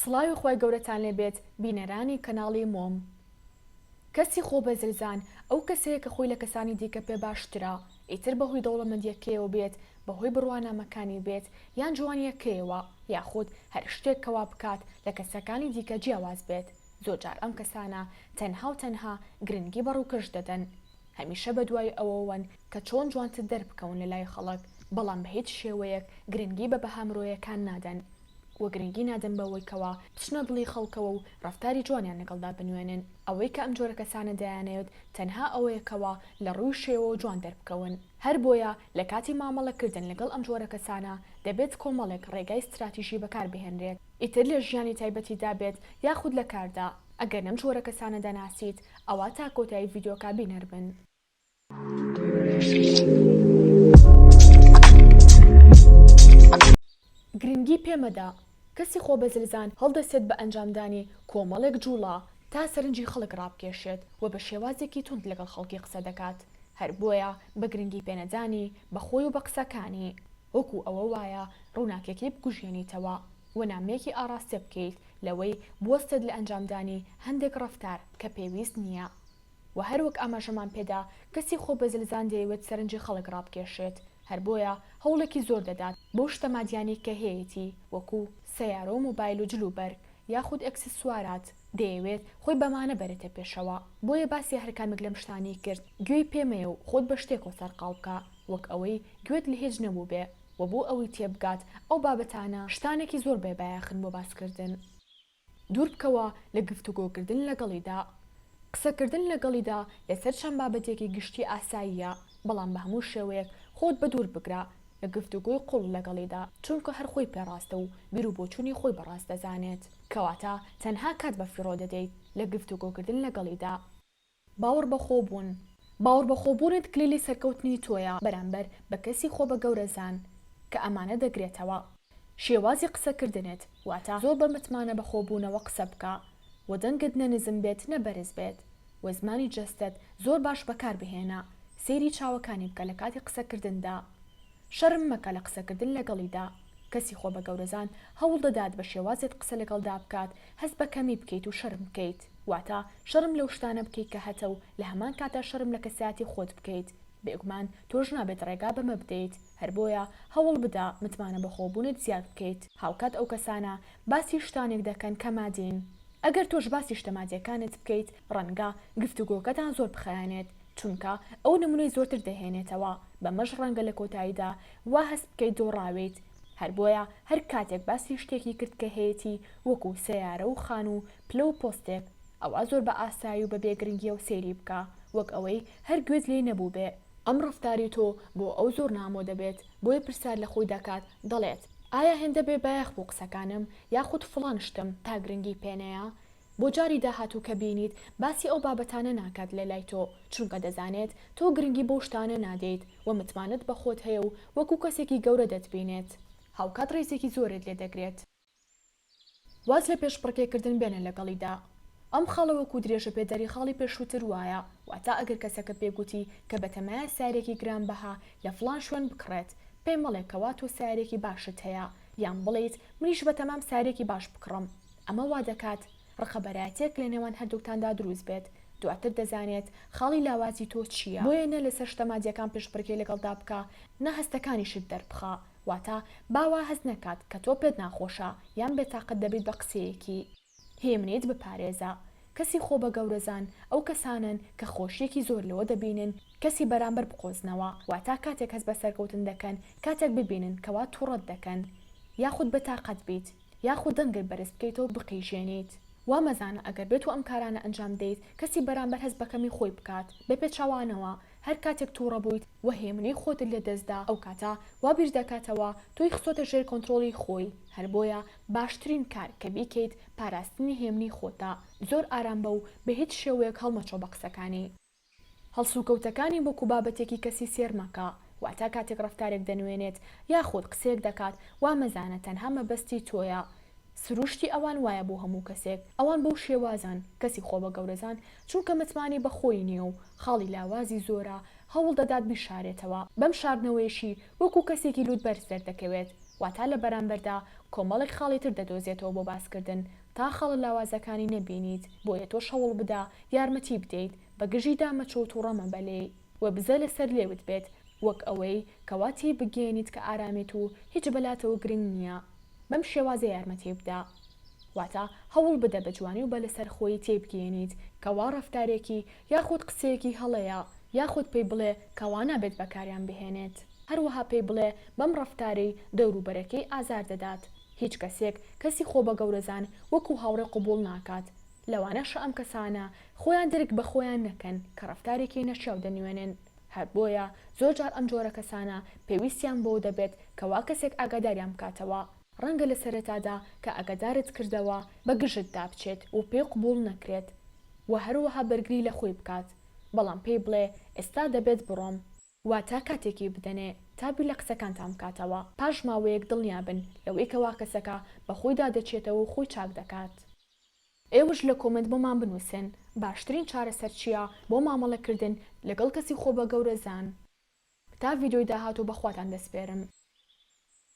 سڵاوی خوای گەورەتان لێ بێت بینەرانی کەناڵی مۆم کەسی خۆ بەزلزان ئەو کەسەیە کە خۆی لە کەسانی دیکە پێ باشترە ئیتر بەهۆی دەوڵەمەندیەکەیەوە بێت بەهۆی بڕوانامەکانی بێت یان جوانیەکەیەوە یاخود هەر شتێک کە وا بکات لە کەسەکانی دیکە جیاواز بێت زۆر جار ئەم کەسانە تەنها و تەنها گرنگی بە ڕوکەش دەدەن هەمیشە بەدوای ئەوەوەن کە چۆن جوانتر دەربکەون لەلای خەڵک، بەڵام بە هیچ شێوەیەک گرنگی بە بەها مرۆیەکان نادەن و گرنگی نادەن بەوەی کەوا بچنە دڵی خەڵکەوە و ڕەفتاری جوانیان لەگەڵدا بنوێنن، ئەوەی کە ئەم جۆرە کەسانە دەیانەوێت تەنها ئەوەیە کەوا لە ڕووی شێوەوە جوان دەربکەون، هەر بۆیە لە کاتی مامەڵە کردن لەگەڵ ئەم جۆرە کەسانە دەبێت کۆمەڵێک ڕێگای ستراتیژی بەکار بهێنرێت ئیتر لە ژیانی تایبەتیدا بێت یاخود لە کاردا، ئەگەر لەم جۆرە کەسانە دەناسیت ئەوا تا کۆتایی ڤیدیۆکە بینەر بن. گرنگی پێ مەدە، کەسی خۆبەزلزان هەڵدەسێت بە ئەنجامدانی کۆمەڵێک جوڵە تا سەرنجی خەڵک ڕابکێشێت و بە شێوازێکی توند لەگەڵ خەڵکی قسە دەکات، هەر بۆیە بە گرنگی پێنەدانی بە خۆی و بە قسەکانی وەکو ئەوە وایە ڕووناکیەکەی بکوژێنیتەوە. و نامەیەکی ئاڕاستە بکەیت لەوەی بوەستێت لە ئەنجامدانی هەندێک ڕەفتار کە پێویست نییە و هەر وەک ئاماژەمان پێدا کەسی خۆبەزلزان دەیەوێت سەرنجی خەڵک ڕابکێشێت هەر بۆیە هەوڵێکی زۆر دەدات بەو شتە مادیانەی کە هەیەتی وەکو سەیارە و مۆبایل و جلوبەرگ یاخود ئەکسسوارات دەیەوێت خۆی بەمانە بەرێتە پێشەوە بۆیە باسی هەر کامێک لەم شتانەی کرد گوێی پێ مەیە و خۆت بە شتێکەوە سەرقاڵ بکە وەک ئەوەی گوێت لە هیچ نەبووبێ. وە بۆ ئەوەی تێبگات ئەو بابەتانە شتانێکی زۆر بێ بایەخن بۆ باسکردن دوور بکەوە لە گفتوگۆکردن لەگەڵیدا قسەکردن لەگەڵیدا لەسەر چەند بابەتێکی گشتی ئاساییە بەڵام بە هەموو شێوەیەک خۆت بەدوور بگرە لە گفتوگۆی قوڵ لەگەڵیدا چونکە هەر خۆی پێڕاستە و بیر و بۆچوونی خۆی بە ڕاست دەزانێت کەواتە تەنها کات بە فیڕۆ دەدەیت لە گفتوگۆکردن لەگەڵیدا. باوەڕ بە خۆ بوون، باوەڕ بە خۆ بوونت کلیلی سەرکەوتنی تۆیە بەرامبەر بە کەسی خۆ بە گەورە زان کە ئەمانە دەگرێتەوە. شێوازی قسە کردنت، واتە زۆر بە متمانە بە خۆ بوونەوە قسە بکە و دەنگت نە نزم بێت نە بەرز بێت و زمانی جەستەت زۆر باش بەکار بهێنە، سەیری چاوەکانی بکە لە کاتی قسە کردندا شەرم مەکە لە قسەکردن لەگەڵیدا، کەسی خۆ بە گەورەزان هەوڵ دەدات بە شێوازێت قسە لەگەڵدا بکات هەست بە کەمی بکەیت و شەرم بکەیت، واتە شەرم لەو شتانە بکەیت کە هەتە و لە هەمان کاتدا شەرم لە کەسایەتی خۆت بکەیت، بێگومان تۆش نابێت ڕێگا بەمە بدەیت، هەر بۆیە هەوڵ بدە متمانە بەخۆ بوونت زیاد بکەیت. هاوکات ئەو کەسانە باسی شتانێک دەکەن کە مادین، ئەگەر تۆش باسی شتە مادیەکانت بکەیت ڕەنگە گفتوگۆکەتان زۆر بخایەنێت، چونکە ئەو نمونەی زۆرتر دەهێنێتەوە، بەمەش ڕەنگە لە کۆتاییدا وا هەست بکەیت دۆڕاویت، هەر بۆیە هەر کاتێک باسی شتێکی کرد کە هەیەتی وەکو سەیارە و خان و پلە و پۆستێک، ئەوا زۆر بە ئاسایی و بە بێ گرنگییەوە سەیری بکە، وەک ئەوەی هەر گوێت لێی نەبووبێ. ئەم ڕەفتاری تۆ بۆ ئەو زۆر نامۆ دەبێت، بۆیە پرسیار لە خۆی دەکات، دەڵێت، ئایا هێندە بێ بایەخ بوو قسەکانم، یاخود فڵان شتم تا گرنگی پێ نەیە؟ بۆ جاری داهاتوو کە بینیت باسی ئەو بابەتانە ناکات لە لای تۆ، چونکە دەزانێت تۆ گرنگی بەو شتانە نادەیت و متمانەت بە خۆت هەیە و وەکو کەسێکی گەورە دەتبینێت، هاوکات ڕێزێکی زۆرت لێ دەگرێت. واز لە پێشبڕکێکردن بێنە لەگەڵیدا. ئەم خاڵە وەکو درێژەپێدەری خاڵی پێشووتر وایە، واتە ئەگەر کەسەکە پێ گوتی کە بەتەمایە سارێکی گرانبەها لە فڵان شوێن بکڕێت، پێی مەڵێ کەوا تۆ سارێکی باشت هەیە، یان بڵێیت منیش بەتەمام سارێکی باش بکڕم. ئەمە وا دەکات ڕقەبەرایەتیەک لە نێوان هەردووکتاندا دروست بێت، دواتر دەزانێت خاڵی لاوازی تۆ چییە، بۆیە نە لەسەر شتە مادییەکان پشتڕکێ لەگەڵدا بکە، نە هەستەکانیشت دەربخە، واتە با وا هەست نەکات کە تۆ پێت ناخۆشە یان بێتاقەت دەبیت بە قسەیەکی. هێمنیت بپارێزە. کەسی خۆ بە گەورەزان ئەو کەسانەن کە خۆشییەکی زۆر لەوە دەبینن کەسی بەرامبەر بقۆزنەوە، واتە کاتێک هەست بە سەرکەوتن دەکەن، کاتێک ببینن کەوا توڕەت دەکەن یاخود بێتاقەت بیت، یاخود دەنگت بەرز بکەیتەوە بقیژێنیت. وا مەزانە ئەگەر بێتو ئەم کارانە ئەنجام بدەیت کەسی بەرامبەر هەست بە کەمی خۆی بکات. بە پێچەوانەوە هەر کاتێک توڕە بوویت و هێمنەی خۆتت لە دەست دا ئەو کاتە وا بیر دەکاتەوە تۆی خستۆتە ژێر کۆنترۆڵی خۆی. هەر بۆیە باشترین کار کە بیکەیت پاراستنی هێمنی خۆتە. زۆر ئارام بە و بە هیچ شێوەیەک هەڵمەچۆ بە قسەکانی. هەڵسوکەوتەکانی وەکو بابەتێکی کەسی سێر مەکە، واتە کاتێک ڕەفتارێک دەنوێنێت یاخود قسەیەک دەکات وا مەزانە تەنها مەبەستی تۆیە، سروشتی ئەوان وایە بۆ هەموو کەسێک، ئەوان بەو شێوازەن، کەسی خۆبەگەورەزان چونکە متمانەی بە خۆی نییە و خاڵی لاوازی زۆرە هەوڵ دەدات بیشارێتەوە، بەم شاردنەوەیەشی وەکو کەسێکی لووتبەرز دەردەکەوێت، واتە لە بەرامبەردا کۆمەڵێک خاڵی تر دەدۆزێتەوە بۆ باسکردن، تا خاڵە لاوازەکانی نەبینیت بۆیە تۆش هەوڵ بدە یارمەتی بدەیت بە گژیدا مەچۆ و توڕە مەبە لێی و بزە لەسەر لێوت بێت وەک ئەوەی کەوا تێی بگەیەنیت کە ئارامێت و هیچ بەلاتەوە گرنگ نیە بەم شێوازە یارمەتی بدە واتە هەوڵ بدە بە جوانی و بە لەسەر خۆیی تێی بگەیەنیت کەوا ڕەفتارێکی یاخود قسەیەکی هەڵەیە یاخود پێی بڵێ کەوا نابێت بەکاریان بهێنێت هەروەها پێی بڵێ بەم ڕەفتارەی دەوروبەرەکەی ئازار دەدات هیچ کەسێک کەسی خۆ بە گەورەزان وەکو هاوڕێ قبوڵ ناکات، لەوانەشە ئەم کەسانە خۆیان درک بە خۆیان نەکەن کە ڕەفتارێکی نەشیاو دەنوێنن، هەر بۆیە زۆر جار ئەم جۆرە کەسانە پێویستیان بەوە دەبێت کە وا کەسێک ئاگاداریان بکاتەوە، ڕەنگە لە سەرەتادا کە ئاگادارت کردەوە بە گژتدا بچێت و پێی قبوڵ نەکرێت و هەروەها بەرگری لە خۆی بکات، بەڵام پێی بڵێ ئێستا دەبێت بڕۆم. واتە کاتێکی بدەنێ تا بیر لە قسەکانتان بکاتەوە، پاش ماوەیەک دڵنیا بن لەوەی کەوا کەسەکە بە خۆیدا دەچێتەوە و خۆی چاک دەکات. ئێوەش لە کۆمێنت بۆمان بنووسن باشترین چارەسەر چییە بۆ مامەڵە کردن لەگەڵ کەسی خۆبەگەورەزان. تا ڤیدیۆی داهاتوو بە خواتان دەسپێرم.